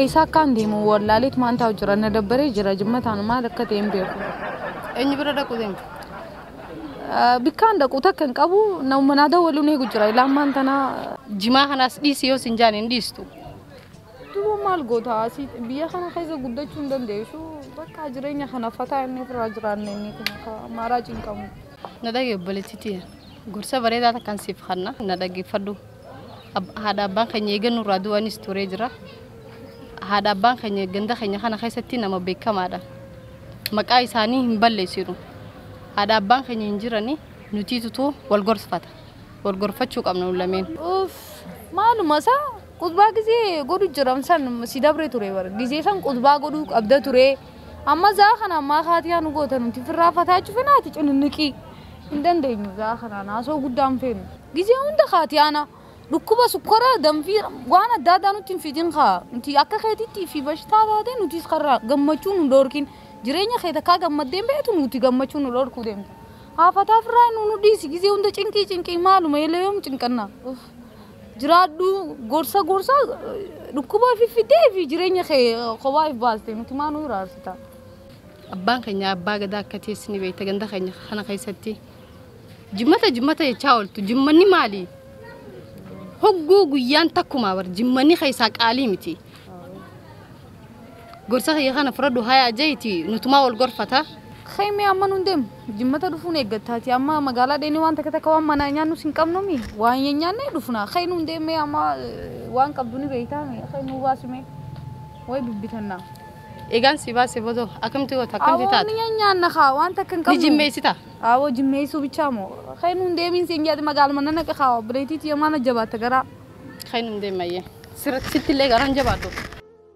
Eessa akkaan deemu wallaaleet maal taa'u jira na dabbaree jira jimma taanu maal akka ta'e hin beeku. Eenyu bira dhaquu deemta? Ah, Bikkaan dhaqu takka hin qabu na manaa dawwaluun eegu jira ilaa ammaan tana Jimaa kanaas dhiisi yoo sin jaan hin dhiistu. duuba maal goota asii biyya kana keessa guddachuu hin dandeessu bakka jireenya kana fataa inni ofirraa jiraanne inni kun akka maaraa cinqamu. Na dhagee obboleettiitii. Gorsa bareedaa takkan siif kanna na dhaggeeffadhu. Haadha abbaan keenya eega nurraa du'anis turee jira. Haadha abbaan keenya ganda keenya kana keessatti nama beekamaadha. Maqaa isaanii hin balleessinu. Haadha abbaan keenya hin jirani nutiitutu wal gorfata. Wal gorfachuu qabna nu lameen. Uff, maaluma isaa qudbaa gizee godhu jiran san si dabre ture bara. Gizee san qudbaa godhuu qabda ture. Amma zaa kana ammaa kaatii haa nu goota nuti firraa fataachu fena ati cininniqii. Hin dandeenyu zaa kanaan haasoo guddaa hin feenu. Gizee hunda kaatii ana dhukkuba sukkora danfii waan adda addaa nutti hin fidin kaa nuti akka keetitti fi bashitaa taate nutis karra gammachuu nu dhorkin jireenya kee takkaa gammaddeen beektu nuti gammachuu nu dhorkuu deemta. Haafataa firraa nu nu dhiisi gizee hunda cinqii cinqii maaluma eeleeyoom cinqannaa. Uff. jiraadhu gorsa gorsa dhukkuba ofi fidee fi jireenya kee kophaa if baaste nuti maa nu iraarsita. Abbaan keenya abbaa gadaa akka ta'es ni beekta ganda keenya kana keessatti jimmata jimmata jechaa ooltu jimmanni maali? Hogguu guyyaan takkumaa bar jimmanni keessaa qaalii miti. Gorsa kiyya kana fudhadhu hayaa jeyti nutumaa wal gorfata. Khay mee amma nun deem jimmata dhufuun eeggatta ati amma magaalaa dheenee waan takka takka waan manaa nyaannus hin qabnu mi waan hin nyaannee dhufna khay nun deem mee amma waan qabdu ni beeytaa mi khay nuu baasi mee way bibbitanna. Egaan si baase bodoo akkamti goota akkamti Awoo taata? ni nyaanna kaa waan takka hin Ni qabnu. jimmeessita? Awoo jimmeessuu bichaa moo khay nun deemiin siin jedhe magaaluma nana qakaa obboleetiiti yomaana jabaatta garaa. Khay nun deemayyee. Sirratti sitti illee garaan jabaadhu.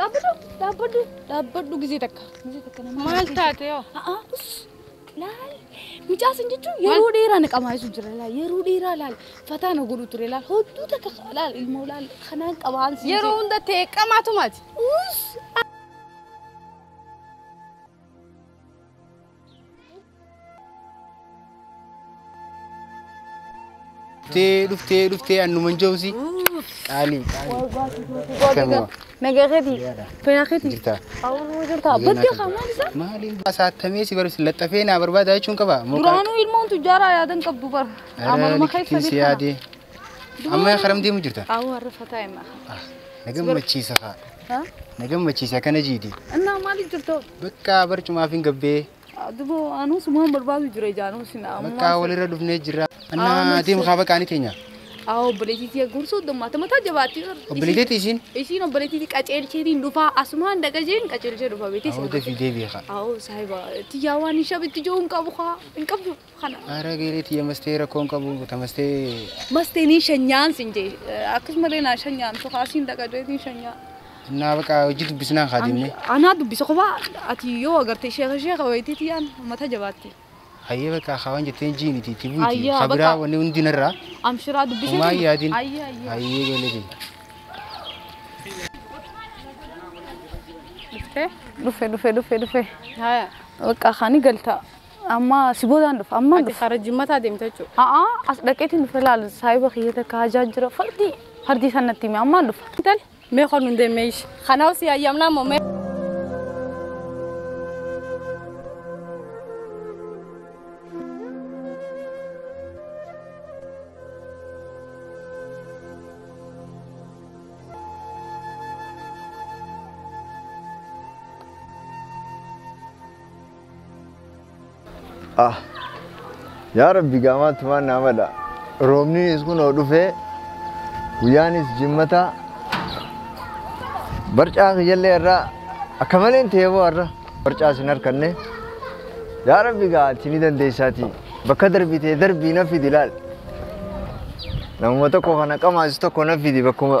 Dhaabbadhu dhaabbadhu gizee takka. Gizee takka nama. Maal taate yoo? A'aa us laal mucaa san jechuun yeroo dheeraa na qamaayessu jira laal yeroo dheeraa laal fataa na godhu ture laal hodduu takka laal ilmoo laal kanaan qabaan siin Yeroo jedhe. hunda ta'e qamaatu maati. Us dhuftee dhuftee dhuftee annuman jawsi qaaliif qaaliif Nagaa keetii. Fayyaa keetii. jirtaa Awwaaluma jirtaa. Bakki qamaan isaa. maaliin basaattamee si barbaachisa laxxafee naa barbaada jechuun qaba Duraanuu ilmoon tujjaaraa yaadan qabdu bara. Amaluma keessa si beekama. yaadee amma karam deemu jirta Awwa rafa taa'ima. na gammachiisa kaa Ha? na gammachiisa akkana jiidi Innaa maaliif jirtu? bakka barcumaaf hin gabbee Dubo anuu sumaan barbaadu jira jaanuu sin Bakka walirra dhufnee jirra. Annaa deemu kaa bakka ani teenya. Aa obboleetiitii gursuu dummaata mataa jabaatti. Obboleetiitii isiin. Isiin obboleetiitii qaceelcheetiin dhufaa asumaan dhagajeen qaceelchee dhufa beetii. Aa deebii deebii kaa. Aa saahiba tiyyaa waan hin shabitti joon qabu kaa hin qabdu. Kana. Ara geeree tiyya mastee rakkoon qabu tamastee. Mastee nii shanyaan sin jee akkasumallee naa shanyaan sokaasiin dhaqa jeetiin shanyaa. Naa baqaa hojii dubbisnaan haa deemnee. Anaa dubbisa kophaa ati yoo agarte sheeka sheeka wayitii tiyyaan mata jabaatti. Hayyee baqaa haa waan jetteen jiiniti itti buuti. Hayyaa, Haa biraa baqaa. wanni hundi narraa. Amshiraa dubbisa. Homaa hin yaadin. Ayya ayya. Hayyee ijoollee tiyya. Dhufe dhufe dhufe dhufe. Haya. Bakka kaani galtaa. Amma si boodaan dhufa. Amma Ati dhufa. karaa jimmataa deemta jechuudha. A'a as dhaqeetiin dhufe laal saahiba kiyya takka hajaa jira fardii fardii san natti hime ammaan dhufa. Intal mee kan nun deemee ishi. Kanaaf si hayyamnaa moo mee. Ah. Yaa Rabbi gaamaatti waan naa mala. Roobninis kunoo dhufee guyyaanis jimmataa barcaa kiyyallee irraa akka maleen ta'ee boo har'a barcaa sin harkanne. Yaa Rabbi gaa ati ni dandeessaatii bakka darbitee darbii na fidi laal. Namuma tokko kana qamaas tokko na fidi bakkuma.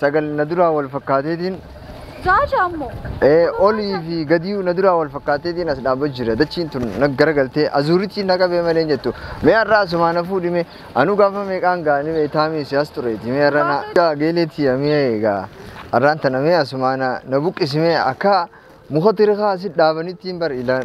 sagal na duraa wal fakkaateetiin Jaasha ammoo. ee, olii fi gadii na duraa wal fakkaateetiin as dhaabba jira dachiin tun na garagaltee azuurichi na qabee malee hin jettu mee har'a asumaa na fuudhime anuu gaafa meeqaan gaanii mee taamii siyaas tureeti mee har'a na gaa geeleetii amee egaa har'aan tana mee asumaa na na buqqisimee akka muka tirikaa asi dhaabanitti hin bar ilaan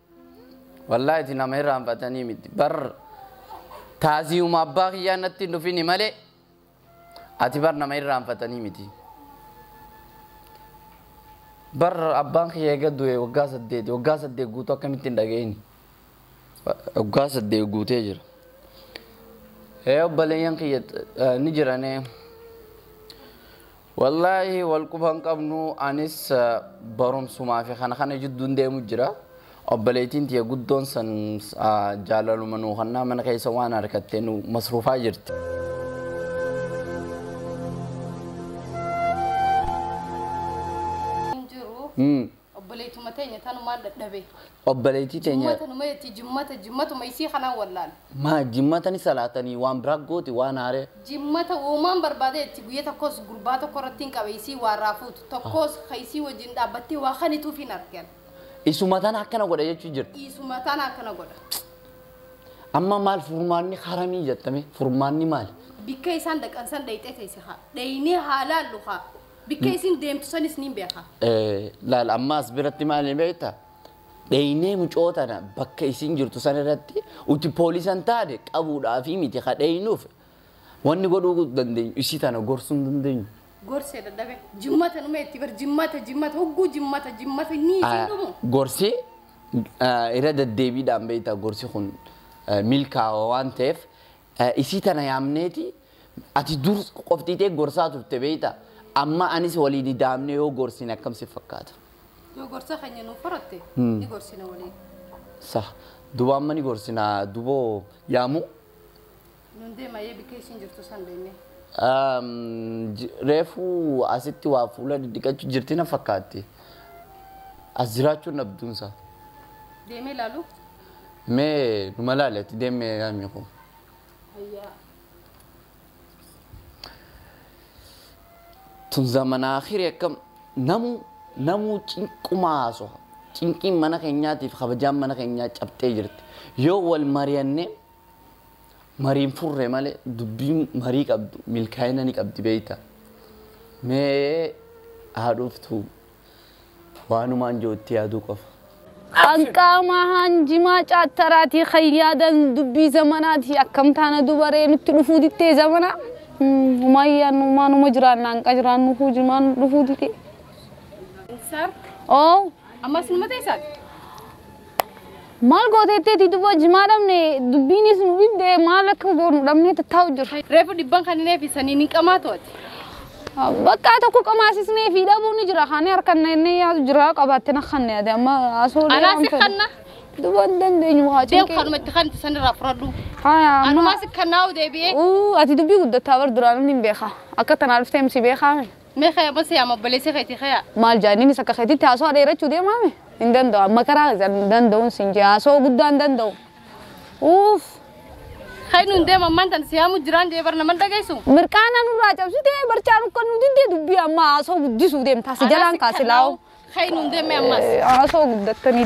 Wallaahi ati nama irraanfatanii miti. Bar taaziyuma abbaa kiyyaa natti hin dhufini malee ati bar nama irraanfatanii miti. Bar abbaan kiyya eega du'e waggaa saddeeti. Waggaa saddeet guutuu akkamitti hin dhaga'ini? Waggaa saddeet guutee jira. Ee obboleeyyan kiyya eh, ni jirane. Wallaahi wal quba hin qabnu anis barumsumaa fi kana kana jidduun deemu jira. Obboleettiin tiyya guddoon san jaalaluma nuu kannaa mana keessa waan harkattee nu masruufaa jirti. Hin jiru. Obboleettuma teenya tanumaan dhadhabe. Obboleettii teenya. Jimmata numa jetti jimmata jimmatuma isii kanaan wallaale. Maa jimmata ni salaatanii waan biraa gooti waan haaree. Jimmata woomaan barbaada jetti guyya takkoos gurbaa tokko irrattiin qabe isii waarraa fuutu tokkoos ka isii wajjin dhaabbattee waa kanituuf hin arge an. Isuma tana akkana godha jechuu jirta. Isuma tana akkana godha. Amma maal furmaanni haramii jetta mee furmaanni maali? Bikka isaan dhaqan san dhayxee teesse haa dhaynee haa laallu haa. Bikka isin deemtu sanis niin beeka. Eh, laal amma as biratti maal ni beekta? Dheeynee mucoo tana bakka isin jirtu san irratti uti poolisan taate qabuudhaafii miti ka dheeynuuf wanni godhuu dandeenyu isii tana gorsuu hin dandeenyu. Gorsee dadhabe. Jimmata numa itti bar jimmata jimmata hogguu jimmata jimmata nii isin Ah, dhumu. Gorsi ah, irra deddeebiidhaan beekta gorsi kun ah, milkaawa waan ta'eef Isii tana yaamneeti ati dur qofti tee gorsaa turte beeyta amma anis waliin idaamne yoo gorsine akkam si fakkaata. Yoo gorsa keenya nuuf horatte ni gorsina waliin. Sah duba amma ni gorsina duboo yaamuu. Nun deema yee bikka isiin jirtu san deemnee. Reefu asitti waa fuula diddiqachu jirti na fakkaatti. As jiraachuun dhabduunsa. Deemee laaluu. Mee numa laali ati deemme yaanni koo. Hayyaa. Tun zamana akhiri akkam namu namuu cinquma haasoha. Cinqiin mana keenyaatiif kabajaan mana keenyaa cabxee jirti. Yoo wal mari'anne mariin furre malee dubbiin marii qabdu milkaa'ina ni qabdi beeyta. Mee haa dhuftu Waanumaan jiru itti yaaduu qofa. Kan qaamaa haan jimaa caattaraatii kan yaadan dubbii zamanaatii akkam taana dubaree nutti dhufuu dittee zamanaa humaan yaannu maanuma jiraanna hanqa jiraannu kuu jimaa nu dhufuu didee. Sir, Oo ammas numa teessan? Maal gooteetteeti duba jimaa dhabne dubbiinis nu dhibde maal akka goonu dhabnee tattaa'u jirra. Reefu dhibban kan hin eebbisanii ni qamaa to'ate. Bakka tokko qamaasisnee fi dhabuu ni jira. Kaanii harkan inni yaadu jira qabaatte na kan yaade amma asoo Anaa si kanna. Duba hin dandeenyu haa Deem cinqee. kanuma itti kanti sanirraa furadhu. Haya amma. Anumaa si kannaa'u deebi'ee. Uu ati dubbii guddattaa bar duraan inni hin beeka. Akka tanaa dhuftee miti beekaa. Mee kaya ma siyaama obboleessi keeti kaya. Maal jaa inninis akka keetitti haasawaa dheerachuu deemaa mi? Hin danda'u amma karaa keessan hin danda'uun sin jee haasawaa guddaa hin danda'u. Uuff. Ka'e nuun deema ammaan tan siyaamu jiraan jee bar naman dhageessu. Mirqaana nurraa cabsitee barcaa nukka nu diddee dubbii amma haasawaa guddisuu deemta si jalaan kaasi laa'u. Ka'e nuun deemee ammas. Haasawaa guddattanii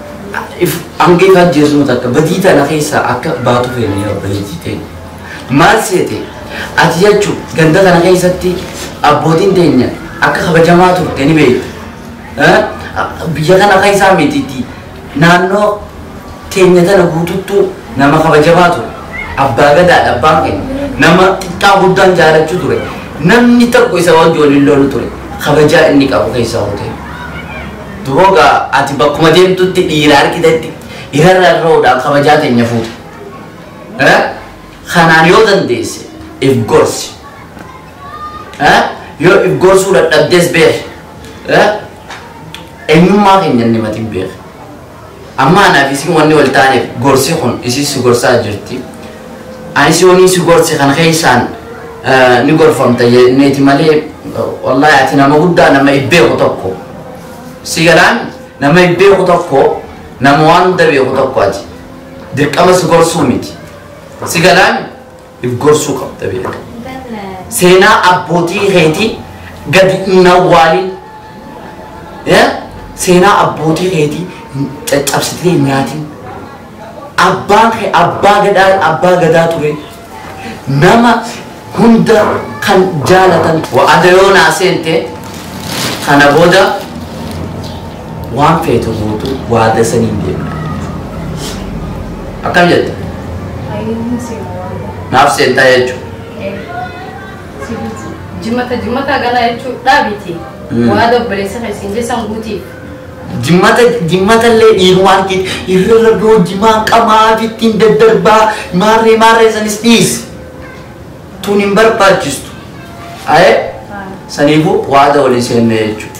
If hanga if ajjeesnu takka badii tana keessaa akka baatu feena yaa obboleettii teenya. Maal seete ati jechu ganda tana keessatti abbootiin teenya akka kabajamaa turte ni beekta. Eh, Biyya kana keessaa mititti naannoo teenya tana guututtuu nama kabajamaa ture. Abbaa gadaadha abbaan keenya. Nama xiqqaa guddaan jaalachuu ture. Namni tokko isa wajji waliin lolu ture. Kabajaa inni qabu keessaa hoo ta'e. Duroo gaa ati bakkuma deemtutti dhiira argitetti irra rarra'uudhaan kabajaa teenya fuute. Eh? Kanaan yoo dandeesse if gorsi. Eh? Yoo if gorsuu dadhabdes beeki. Eh? Eenyummaa keenya inni matiin beeki. Amma anaaf isiin wanni wal taaneef gorsi kun isiis si gorsaa jirti. Anis yooniin si gorse kana keessaan ni gorfamta jenneeti malee wallaahi ati nama guddaa nama if beeku tokko. Si galaan nama if beeku tokko nama waan hunda beeku tokko ati. Dirqama si gorsuu miti. Si galaan If gorsuu qabda beeka. Seenaa abbootii keetii gadi hin awwaalin. Eh? Seenaa abbootii keetii hin- caccabsitee hin nyaatin. Abbaan kee abbaa gadaa abbaa gadaa ture. Nama hunda kan jaalatan. Wa'ada yoo naa seente kana booda Waan feetu gootu waada saniin deema. Akkam jette? Ayyuun seena waada. Naaf seentaa jechuudha. Si bulchu. Jimata jimata galaa jechuun dhaabiti. Mm. Waada obboleessa keessin jesan guutiif. Jimmata jimmatallee dhiirumaan ittiin irra boojimaa qamaa ittiin daddarbaa maarree maarree sanis dhiisi. Tun hin barbaachistu. Ayee saniifuu waada walii seennee jechuudha.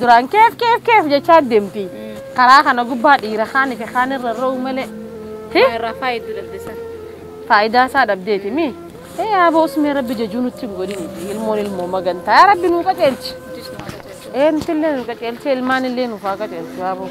Duraan keef keef keef jechaa deemti. Karaa kana gubbaa dhiira kaanii fi kaan irra ro'u malee. Hi? Irraa faayiduu dandeessan. Faayidaa isaa dhabdeeti mi? Ee aboo usmee rabbi jajuu nutti hin godhini. Ilmoon ilmoo magantaa. Yaa rabbi nuu qajeelchi. Jis nu haadha jechuudha. Ee nuti illee nu qajeelchee ilmaan illee nuuf haa qajeelchu aboo.